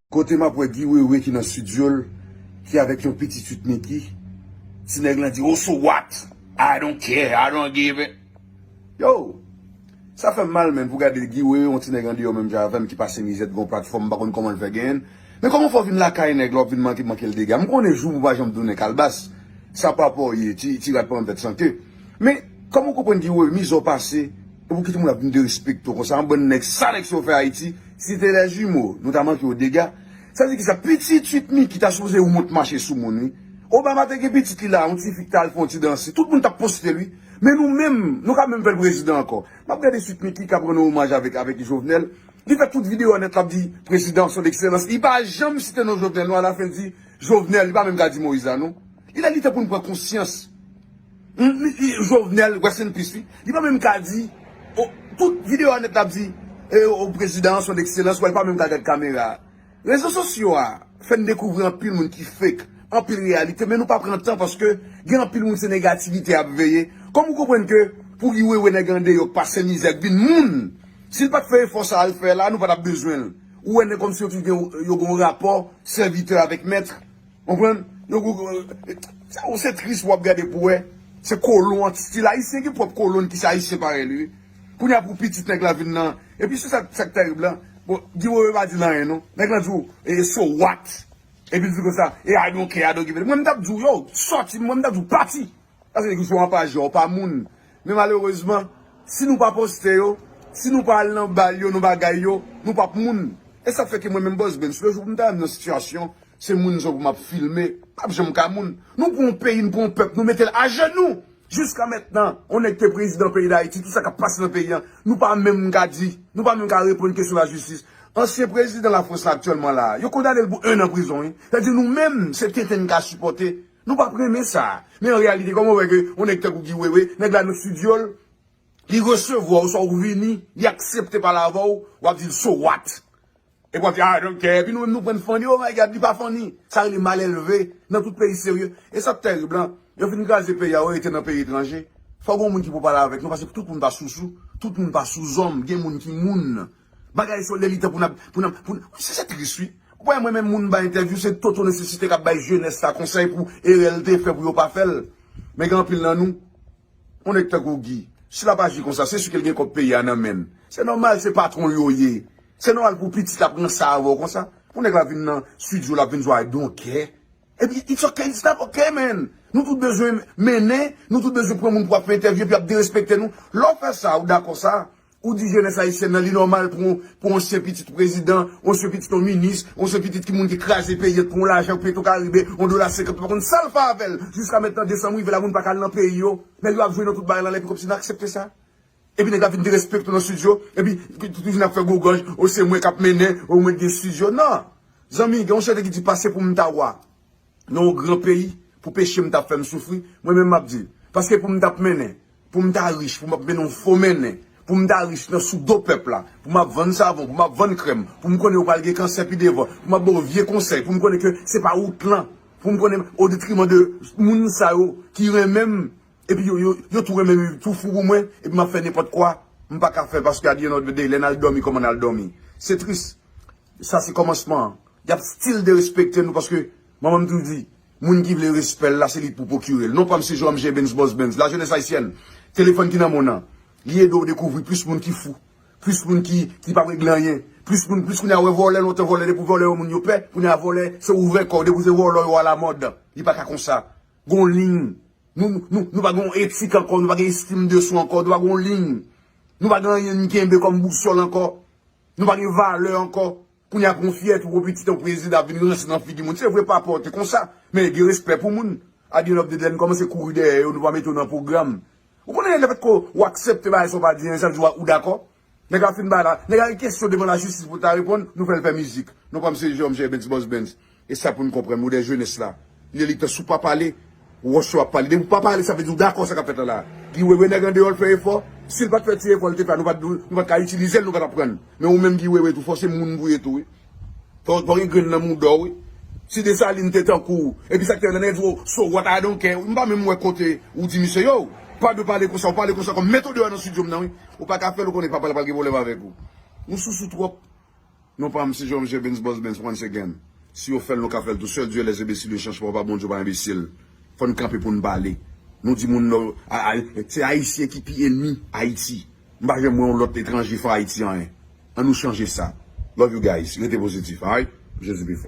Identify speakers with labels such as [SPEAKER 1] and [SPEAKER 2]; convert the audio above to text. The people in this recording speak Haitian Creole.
[SPEAKER 1] Kote map wè Guy Wewe ki nan studio l ki avèk yon pitit fut Mickey ti nèg lan di oh so what I don't care I don't give a Yo! Sa fèm mal menn pou gade Guy wè yon ti nèg andeyò menm jan avèm ki pase mizè t gon platfòm m pa konn kòman l fè genyn l men kòman fè w vin lakay nèg la wap vin manke manke l dega m konnen jou pou pa janm tounen kalbas sa pa paw ye ti ti rat pa janm fèt san ke men kòman w konprann Guy wè mizè w pase epi w kite moun ap vin derespekte w konsa an bann nèg sa nèg sa yo fè Ayiti si te lè jimo nou ta manke w dega sa vle di kisa pitit 8 Micky ta sipoze wont mache sou moun wi Obama te gen pitit li la yon tifi k ta al fè yon ti danse tout moun tap poste l wi. Men nou menm, nou ka menm fè l prezidan ankò. M ap gade Sweet Micky k ap rann ou omaj avèk avèk Jovenel. Li fè tout videyo an nèt l ap di prezidan son ekselans. Li pa janm site non Jovenel non alafen l di Jovenel. Li pa menm ka di Moïse la non. Il est li tan pou n pran konsyans. Jovenel, rest in peace wi. Li pa menm ka di Tout videyo an nèt l ap di prezidan son ekselans wè l pa menm ka gad kamera. Rezo sosyo a fè n dekouvri anpil moun ki fake, anpil reyalite men nou pa pran tan paske gen anpil moun se negativite yap veye kòm ou konprann ke pou li wewe nèg andeyò k pase mizè k vin moun si l pat fè efò sa a l fè la nou pa tap bezwen l ou wè nèg kòmsi yo toujou gen yo gen yon rapò sèvitè avèk mèt. Konprann? Yo gou gou Sa ou se tris wap gade pou wè Se kolon an stil ayisyen gen pwòp kolon n ki se ayisyen parèy li wi Kounye a pou pitit nèg la vin nan Epi se sak sak terib la Bon Guy wewe pa di l anyen non Nèg lan di w e so what Epi l di konsa e I don't care I don't give a damn Mwen m tap di w yow sòti Mwen m tap di w pati Paske nèg yo sou anpaj yo pa moun. Men malerezman, si nou pa poste yo, si nou pa al nan bal yo, nan bagay yo, nou pap moun. E sa fè ke mwen menm Bossbens, le jou pou m ta wè m nan sitiyasyon, se moun zo pou m ap filme, m pap janm ka moun. Nou pran yon peyi, nou pran yon pèp, nou mete l ajenou! Jiska mètnan, yon nèg te prezidan peyi Dayiti, tout sa k ap pase nan peyi an, nou pa menm ka di, nou pa menm ka reponn kesyon lajistis. Ansyen prezidan Lafrans la aktyèlman la a, yo kondane l pou ennan prizon wi. Sa vle di nou menm, se tenten n ka sipòte. Nou pap renmen sa. Men an reyalite kòman ou wè ke yon nèg tankou Guy Wewe, nèg la nan studio l, li resevwa w sa ou vini, li aksepte pale avè w, w ap di l so what? Epi w ap di a I don't care, epi nou menm nou pran n funny, oh my God li pa funny. Sa rele malelve nan tout peyi serye. E sa k tèrib la, yo fin kraze peyi a, yo rete nan peyi etranje, fò gen yon moun ki pou pale avèk nou paske tout moun pa sousou, tout moun pa souzòm, gen moun ki moun. Bagay solde li tan pou nap pou nap pou nap se tris wi. Ou pa wè mwen menm moun bay entèvyou se Toto nesesite kap bay jenès la konsèy pou erè l te fè pou yo pa fè l. Men gen anpil nan nou yon nèg tankou Guy si lap aji konsa se sike l gen kòb peyi a nan men l. Se nòmal se patwon l yo ye. Se nòmal pou pitit la pran sa avè w konsa. Pou nèg la vin nan studio lap vin sou I don't care. Ebyen it's ok it's not ok man. Nou tout bezwen mennen nou tout bezwen pran moun pou ap fè entèvyou epi ap derespekte nou. Lè w fè sa ou dakò sa Ou di jenès ayisyèn nan li nòmal pou yon sen pitit prezidan, yon sen pitit yon minis, yon sen pitit ki moun ki kraze peyi an pou yon lajan petro karibe, yon dola senkant ou pa konn sal fè avèl. Jiska mentnan desanm rive la moun paka al nan peyi yo. Nèg yo ap jwe nan tout bagay lan lè epi kòmsi nou aksepte sa. Epi nèg la vin derespekte w nan studio epi li vin ap fè gwo gòj o se mwen kap mennen o mwen k gen studio nan. Zanmi gen yon chante ki di pase pou m ta wa nan yon gran peyi pou peche m ta fè m soufri mwen menm map di paske pou m tap mennen Pou m ta rich, pou m ap mennen yon fo mennen, pou m ta rich nan sou do pèp la, pou m ap vann savon, pou m ap vann krèm, pou m konnen yo pral gen kansè pi devan, pou m ap ba yo vye konsèy, pou m konnen ke se pa wout lan, pou m konnen o detriman de moun sa yo ki renmen m epi yo yo tou renmen m yo tou fou pou mwen epi m ap fè nenpòt kwa, m pa ka fè paske at di èn òf de dey lè n al dòmi kòman n al dòmi. Se tris. Sa se kòmansman an. Y ap stil derespekte nou paske manman m toujou di. Moun ki vle respè l la se li k pou pwokire l. Non pa m se Joam Jebens Bòs Bens. Lajenès ayisyèn, telefòn ki nan monn an, li ede w dekouvri plis moun ki fou, plis moun ki ki pa p regle anyen, plis moun plis kounye a wè vòlè lontan vòlè depi w vòlè yon moun yo pè, kounye a vòlè se ouvè kò w depi w se vòlò yo alamòd. Li pa ka konsa. Gon liy. Nou nou nou pa gen yon etik ankò, nou pa gen estim de swa ankò, nou pa gen yon liy. Nou pa gen anyen n kenbe kòm bousòl ankò. Nou pa gen valè ankò. Kounya pran fyète ou pitit yon prezidan ap vin ranse nan figi moun se vre papa w te konsa men gen respè pou moun at the end of the day lè n kòmanse kouri dèyè yo nou pa mete w nan pwogram ou konnen lè fèt ke w aksepte bagay sa w pa di anyen sa vle di ou dakò nèg la fin bay la nèg la gen kesyon devan lajistis pou l ta reponn nou fè l fè mizik non pa m se Jean Michel Bens Boss Bens. E sa pou nou konprann modèl jenès la. Li li pè sou pa pale, wòch yo ap pale. Depi w pa pale sa vle di w dakò sa k ap fèt lan la a. Guy Wewe nèg andeyò l fè efò. Si l pa t fè ti efò l te fè a nou pa t nou pa t ka itilize l nou pa t aprann. Men ou menm Guy Wewe tou fè w se moun pou w ye tou wi. Fè w gen grenn nan mouda w wi. Si Desalin te tankou w epi sa k te fèt lan nèg di w o so what I don't care. M pa menm wè kote ou di misye yow. Pa dwe pale konsa. Ou pale konsa kòm met ou deyò nan studio m nan wi. Ou pa ka fè l ou konnen papa l pral gen pwoblèm avèk ou. Ou sousou twòp. Non pam si Jean Michel Benz Boss Benz once again si yo fèl nou ka fèl tou sèl Dieu les imbeciles ne change pas pa Bondye pa enbesil fòn kanpe poun pale nou di moun nò se ayisyen ki pi enmi ayiti m pa janm wè yon lòt etranje fè ayiti anyen an nou chanje sa love you guys rete pozitif alright Jezi pi fò.